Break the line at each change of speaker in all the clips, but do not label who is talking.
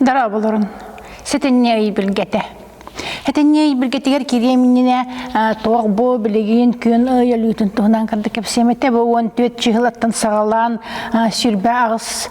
Дорооболорун. Сэтинньи ый билгете. Этинньи ый билгетигер кириэм иннинэ тоох бу билигин күн ый өлүүтүн туһунан кырды кэпсиэмете бу 14 чыһылаттан саҕалаан сүрбэ аҕыс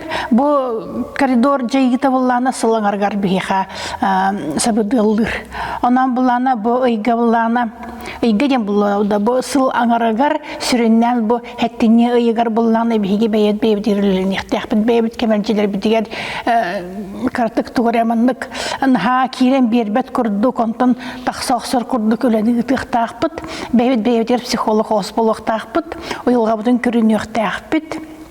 Бу коридор дьайыыта буллаана сыл аңаргар биһиэхэ сабыдыаллыыр. Онон буллаана бу ыйга буллаана ыйга диэн буллаана бу сыл аңарыгар сүрүннээн бу хэттинни ыйыгар буллаана биһиги бэйэт бэйэбитигирлэниэхтээхпит бэйэбит кэмэлдьилэрбитигэр кыратык тугураманнык наһаа киирэн биэрбэт курдук онтон тахса охсор курдук үлэни ыытыахтаахпыт бэйэбит бэйэбитигэр психолог ос болуохтаахпыт уйулҕабытын көрүнүөхтээхпит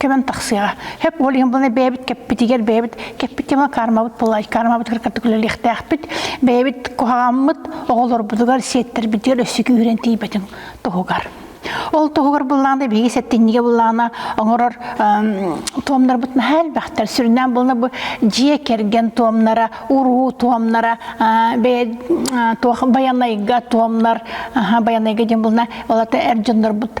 кэмэн тахсыаҕа хэп ол иһин быланы бэйэбит кэппитигэр бэйэбит кэппит кэмэ кармабыт пылай кармабытыгар кытта күлэлиэхтээхпит бэйэбит куһаҕаммыт оҕолорбутугар сиэттербитигэр өссө күүһүрэн тиийбэтин туһугар ол туһугар буллаана биһиги сеттиннигэ буллаана оҥорор туомнарбыт наһаа элбэхтэр сүрүннээн булна бу дьиэ кэргэн туомнара уруу туомнара туох байанайга туомнар байанайга диэн булна олата эр дьоннорбут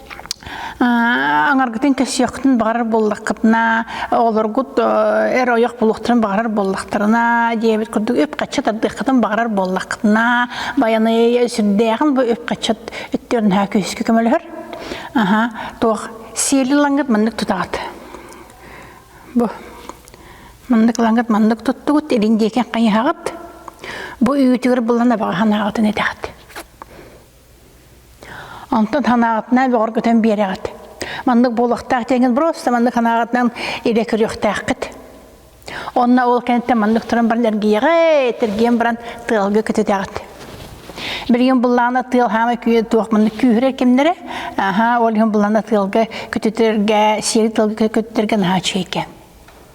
Аңаргытын кэсиэхтин баҕарар буоллаххытына, олоргут эр ойох булуохтарын баҕарар буоллахтарына, диэбит курдук үп-хачча тардыаххытын баҕарар буоллаххытына, баяны сүрдээҕин бу үп-хачча өттөрнөһө күһүскү көмөлөһөр. Аха, туох сиэли лангыт маннык тутаҕыт. Бу маннык лангыт маннык туттугут, илин диэки хайыһаҕыт. Бу үүтүгэр булана баҕаһанаҕытын этэҕит. Онтон санааҕытынан бөҕөр көтөн биэрэҕит. Маннык буолуохтаах диэҥин просто маннык санааҕытынан илэ көрүөхтээххит. Онно ол кэнниттэн маннык туран баран эргийэҕэ, тэргиэн баран тыалга көтүтэҕит. Билигин буллаҕына тыал хаама күйэ туох маннык күүһүрэ кимнэрэ, аха ол иһин буллаҕына тыалга көтүтэргэ, сири тыалга көтүтэргэ наһаа үчүгэйкэ.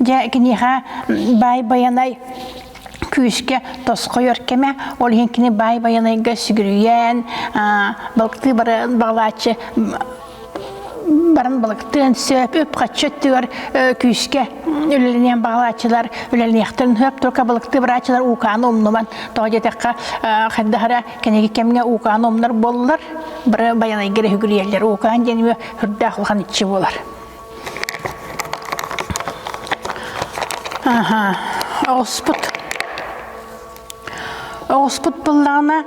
Дьэ, киниэхэ Баай Байанай күүскэ тосхойор кэмэ, ол иһин кини Баай Байанайга сүгүрүйэн, балыктыы баран балааччы баран балыктыан сөп, үп-харчы өттүгэр күүскэ үлэлэниэн баҕалааччылар үлэлэниэхтэрин сөп, только балыктыы барааччылар уукааны умнуман тоҕо диэтэххэ хайдах эрэ кэнеги кэмҥэ уукааны умнар буоллар бары Байанайга рехүгүрүйэллэр, уукаан диэн үрдээх улахан иччи буолар. Оҕуспут оҕуспут буллаҕына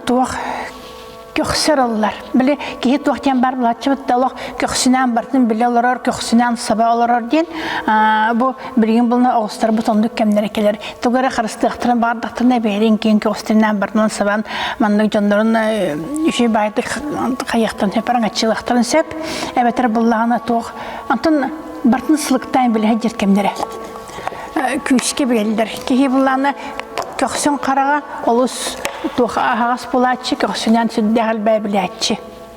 туох көхсөр ыллар. Били киһи туох диэн бар булаччыбыт да олох көхсүнээн бартын биле олорор, көхсүнээн саба олорор диэн бу билигин булна оҕустар бу тондук кэмнере келер. тугу эрэ харыстыахтарын баардахтарына бэһэрин киин көҕүстэринээн барынан сабан маннык дьоннорун үчүй баайдык хайыахтан сөпаран аччылахтарын сөп эбэтэр буллаҕына туох антон бартын сылыктаан билэһэр дьер кэмнэрэ күүскэ билэллэр киһи буллаана көхсүн хараҕа олус туох аһаҕас булааччы көхсүнээн сүрдээх элбээ билээччи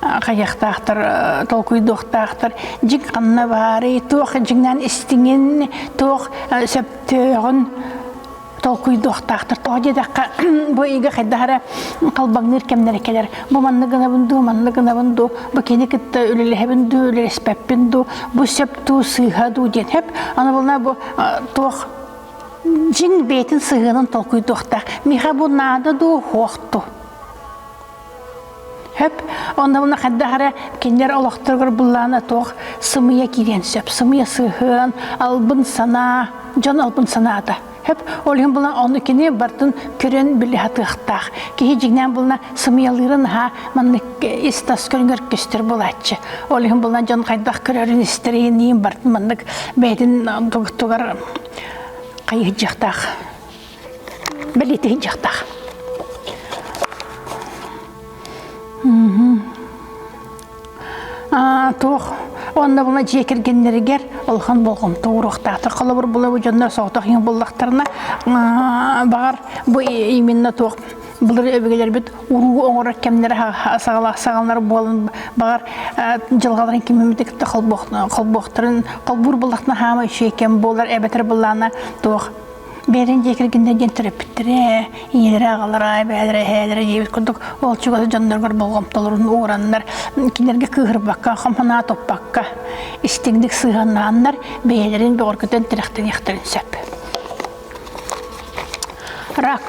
хайыахтаахтар толкуйдуохтаахтар дьиҥ ханна баарый туох дьиҥнээн истиҥин туох сөптөөҕүн толкуйдуохтаахтар тоҕо диэтэххэ бу ыйга хайдах эрэ халбаҥныыр кэмнэрэ кэлэр бу манна гынабын дуу манна гынабын дуу бу кини кытта үлэлэһэбин дуу үлэлэспэппин дуу бу сөп дуу сыыһа дуу диэн хэп аны булна бу туох дьиҥ бэйэтин сыһыанын толкуйдуохтаах миэхэ бу наада дуу хуох дуу Хөп, оннугуна хайдах эрэ кинилэр олохторугар буллаана туох сымыйа киириэн сөп, сымыйа сыһыан, албын санаа, дьон албын санаата. Хөп, ол иһин булан ону кини бартын көрөн биле хатыахтаах. Киһи дьиҥнээн булна сымыйалыырын аһа маннык ис тас көрүнгэр көстөр булааччы. Ол иһин булан дьон хайдах көрөрүн истэриэниин бартын маннык бэйэтин тугар хайыһдьахтаах Бэлиэтиһин дьахтах. Аа, туох онно була дьиэ кэргеннэригэр улахан болҕомто уруохтаахтар холобур булабы дьоннор соҕотох иҥ буллахтарына баҕар бу именно туох былыр өбүгэлэрбит уруу оҥорор кэмнэрэ саҕалаах саҕалар буолан баҕар дьылҕаларын киммитик кытта холбуохтарын холбуур буллахтына хаама үчүгэй кэм буолар эбэтэр былаана туох Биэрин диэки гиннер диэн төрөппүттэрэ, ийэлэрэ, аҕалара, эбээлэрэ, эһээлэрэ диэбит курдук ол чугас дьонноругар болҕомтолорун уураннар, кинилэргэ кыыһырбакка, хомхонаа туппакка истиҥник сыһыаннааннар бэйэлэрин бөҕөргөтөн тирэхтэниэхтэрин сөп. Рак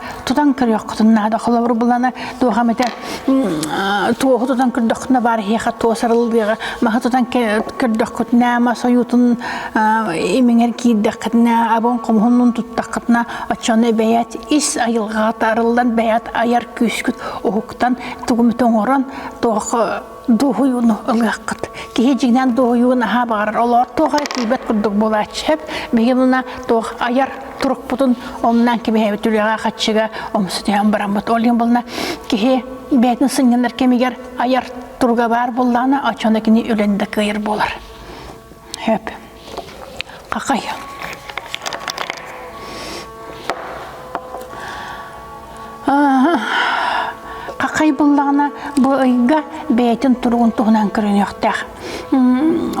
тутан көрүөххүтүн наада холобур булана туохам этэ туоху тутан көрдөххүтүнэ баар иһиэхэ туосарыллыаҕа маһы тутан көрдөххүтүнэ ма сойуутун имиҥэр киирдэххитинэ абон хомуһуннун туттаххытына оччону бэйэт ис айылҕаҕа таарыллан бэйэт айар күүскүт уһуктан тугумут оҥорон туох дуоһуйууну ылыаххыт. Киһи дьиҥинэн дуоһуйууну наһаа баҕарар. Олоор туох эрэ тиийбэт курдук буолааччы сөп. Мигилуна туох айар турукпутун омнан кэбиһэбит үлэҕэ хаччыга омсутуйан бараммыт. Ол иһин булна киһи бэйэтин сынньанар кэмигэр айар туруга баар буоллаҕына, оччоно кини үлэни да кыайар буолар. Сөп. Какая? Какай буллаҕына бу ыйга бэйэтин туругун туһунан көрүнүөхтээх.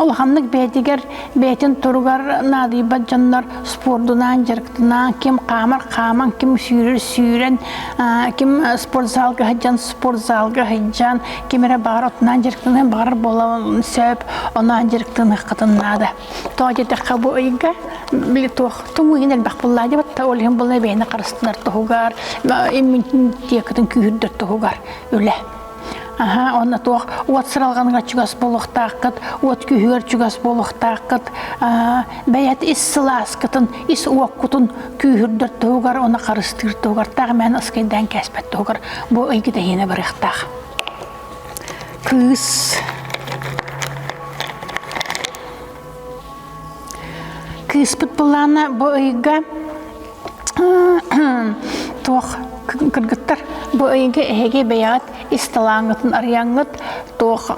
Улаханнык бэйэтигэр бэйэтин туругар наадыйбат дьоннор спордунаан, дьарыктынаан, ким хаамар хааман, ким сүүрэр сүүрэн, ким спортзалга сылдьан спортзалга сылдьан, ким эрэ баҕар отунаан дьарыктаныан баҕарар буолан сөп, оноон дьарыктаныаххытын наада. Тоҕо диэтэххэ бу ыйга били туох туҥуйын элбэх буллаа дебатта ол иһин булла бэйэни харыстынар туһугар, иммунитекытын күүһүрдэр туһугар үлэ. Аха, онно туох уот сыралғаныга чугас болуқтааққыт, уот күйүгэр чугас болуқтааққыт, бәйет ис сылааскытын ис уоккутун күүһүрдэр туһугар, оны харыстыыр туһугар, таах мээн ыскайдаан кээспэт туһугар бу ыйгытэһиинэ барыахтаах. Кыыс кыыспыт былаана бу ыйга туох кыргыттар бу ыйга эһиги бэйэҕит ис талааҥҥытын арыйаҥҥыт туох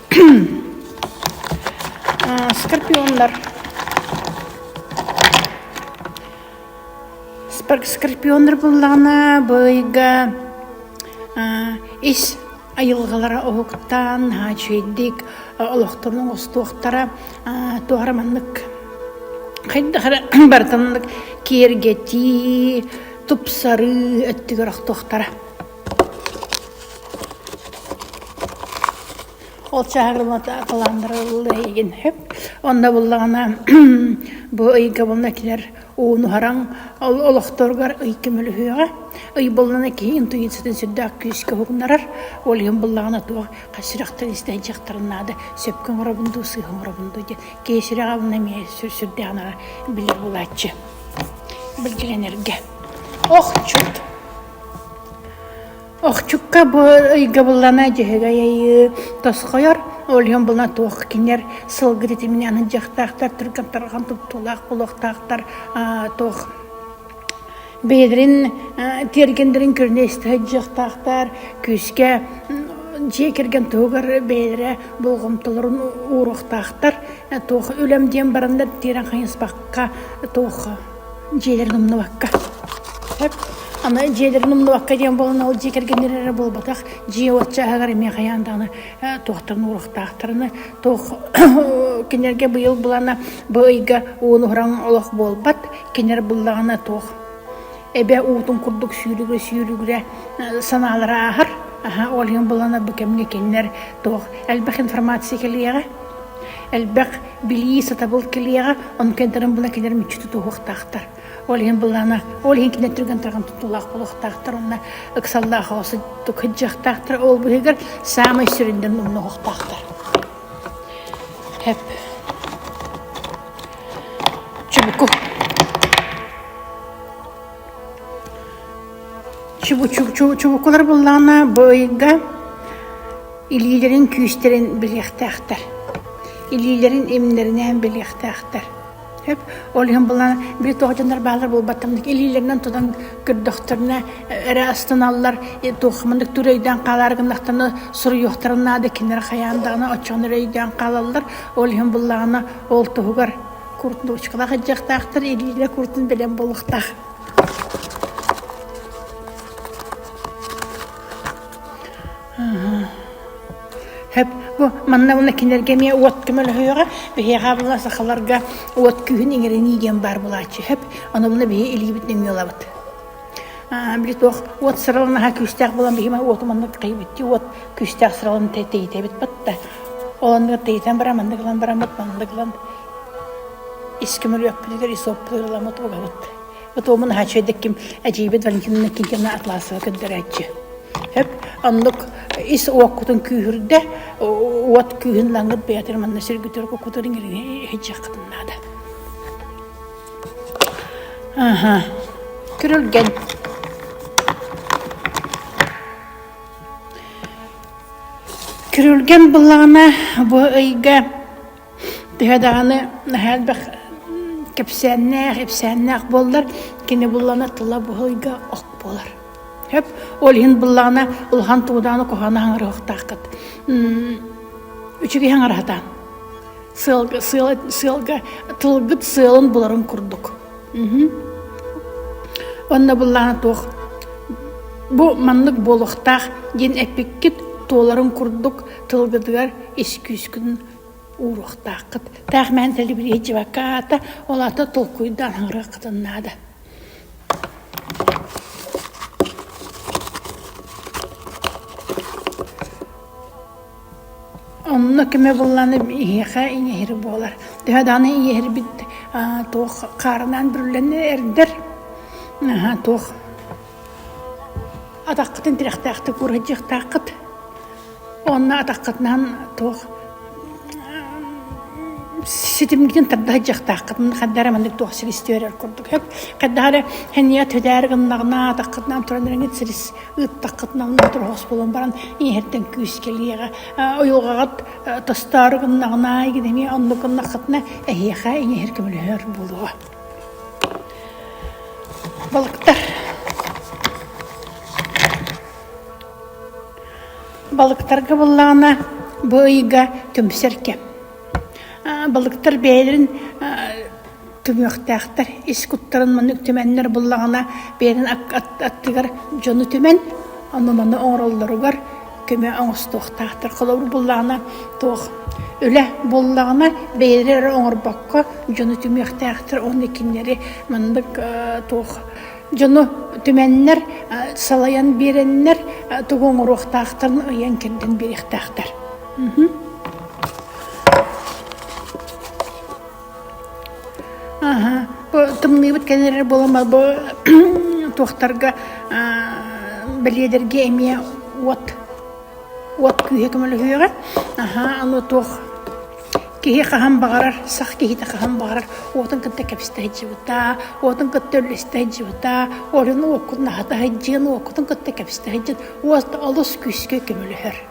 Скорпионнар. Скорпионнар буллаҕына быйга ис айылгалара уһуктаан хаачыйдик олохторун остуохтара туора маннык хайдах барытыннык киэргэтии тупсарыы өттүгэр охтуохтара Ол чаһырылата кылаандырылла иһигин сөп. Онно буллаҕына бу ыйга булна килэр ууну хараҥ ол олохторугар ый көмөлөһүөҕэ. Ый буллана киһи интуициятын сүрдээх күүскэ уһугуннарар. Ол иһин буллаҕына туох сүрэхтэр истэн дьахтарын наада сөпкө оҥоробун дуу, сыыһа оҥоробун дуу диэн киһи сүрэҕэ булна эмиэ сүрдээҕинэ билэр буолааччы. Былдьыгын эргэ. Охчут! Охчукка бу ыйгабыллана дьөһөгөй айыы тосхойор, ол иһин була туох кинилэр сылгы титиминэ аны дьахтаахтар түргэн тарҕан туттуулаах буолуохтаахтар туох бэйэлэрин тиэргэннэрин көрүнэ истэ сылдьыахтаахтар күүскэ дьиэ кэргэн туһугар бэйэлэрэ болҕомтолорун ууруохтаахтар туох үлэм диэн бараннар тиэрэн хайыспакка туох дьиэлэрин умнубакка сөп аны дьиэлэрин умнубакка диэн буолан ол дьиэ кэргэннэр эрэ буолбатах дьиэ уотчааһыгар эмиэ хайаан даҕаны туохтан уурахтаахтарына туох кинилэргэ быйыл булана бу ыйга ууну уһуран олох буолбат кинилэр буллаҕына туох эбэ уутун курдук сүүрүгүрэ сүүрүгүрэ санаалара ааһар аһа ол иһин булана бу кэмҥэ кинилэр туох элбэх информация кэлиэҕэ элбэх Билии сатабыл кэлиэҕэ, ону кэнтэрин була кэлэр мүччү тутуһуохтаахтар. Ол иһин былаана, ол иһин кинилэр түргэн тарҕан тутуулаах буолуохтаахтар уонна ыксаллаах оҕо сыттык кыдьыахтаахтар. Ол быһыгар саамай сүрүннэрин умнуһуохтаахтар. Хэп. Чубуку. Чубукулар буллаҕына бу ыйга илиилэрин күүстэрин билиэхтээхтэр. Илиилэрин имнэринээн билиэхтээхтэр. Сөп? Ол иһин булан били тоҕо дьоннор баалар буолбаттамнык илиилэринэн тутан көрдөхтөрүнэ эрэ астыналлар туох маннык түр өйдөөн хаалар гыннахтарына суруйуохтарын наада кинилэр хайаан даҕаны оччоҕуна өйдөөн хаалаллар ол иһин буллаҕына ол туһугар Курточка баҕайдьахтаахтар илиилэ куртун билэн буолуохтаах Хөп, бу манна уна кинилэргэ эмиэ уот көмөлөһүөҕэ. Биһиэхэ була сахаларга уот күүһүн иҥэринии диэн баар булааччы. Хөп, ону буна биһи илиибит нөҥүө ылабыт били туох уот сыралын аһа күүстээх буолан биһима уотум оннук тэйбитти уот күүстээх сыралын тэйтэбит батта ол оннук тэйтэн баран маннык ылан бараммыт маннык ылан искимүрүөппүтүгэр исоппутугар ыламмыт угабыт бутуомун хаачыйдыкким эдьиийбит валентина киnkина атлаасыга көрдөрөөччү Өп оннук ис уоккутун күүһүрдэ уот күүһүн лаңгыт бэйэтин манна сиргүтөр кукутурин илиҥи хичэххытын наада Күрүлгэн Күрүлгэн былаана бу ыйга төһө даҕаны наһаа элбэх кэпсээннээх, ипсээннээх буоллар, кини буллана тыла бу ыйга ок буолар. Хөп, ол иһин быллаана улахан туудааны кохана хаңырыһыктаахкыт. Үчүгэй хаңырыһатаан. сыалга, сыал, сыалга тылгыт сыалын буларын курдук. Онно буллаана туох бу маннык буолуохтаах диэн эппиккит туоларын курдук тылгытыгар искүүскүн ууруохтааххыт. Таах мээн тэлибириэ живакаата, олата толкуйдаан хаңыраккытын наада. Онно кимэ буолланым иһиэхэ иҥэһир буолар. Төһө даҕаны иҥэһирбит туох хаарынаан бүрүллэнэ эрдэр, туох атаххытын тирэхтээхтик уурайдьыахтааххыт. Онно атаххытынан туох ситимгитин тарда сылдьыахтааххыт. Хайдах эрэ маннык туох силистиэ эрэр курдук. Хайдах эрэ һэнийэ төдээр гыннаҕына атаххытынан туран эрэ силис ыыттаххытынан мотуруһас буолан баран иһэртэн күүскэлиэҕэ ойуоҕаҕыт тастаары гыннаҕына гидэми онну гыннаххытына эһиэхэ иҥэһэр көмөлөһөр буолуо балыктар балыктарга буллаҕына бу ыйга түмсэр кэм балыктар бэйэлэрин түмүөхтээхтэр ис куттарын маннык түмэннэр буллаҕына бэйэтин аттыгар дьону түмэн аны маны оҥороллоругар көмө оҥостуохтаахтар холобур буллаҕына туох үлэ буллаҕына бэйэлэрэ эрэ оҥорбокко дьону түмүөхтээхтэр уонна кинилэри маннык туох дьону түмэннэр салайан биэрэннэр тугу оҥоруохтаахтарын ыйан кэрдэн биэриэхтээхтэр тымныыбыт кэлэрэр буоламмат бу туохтарга бэлиэдэргэ эмиэ уот уот күүһэ көмөлөһүөҕэ аһаа аны туох киһи хаһан баҕарар сах киһитэ хаһан баҕарар уотун кытта кэбистэ сылдьыбыта уотун кытта үллэстэ сылдьыбыта олорун уоккут наһата сылдьыан уоккутун кытта кэбистэ сылдьыан уот олус күүскэ көмөлөһөр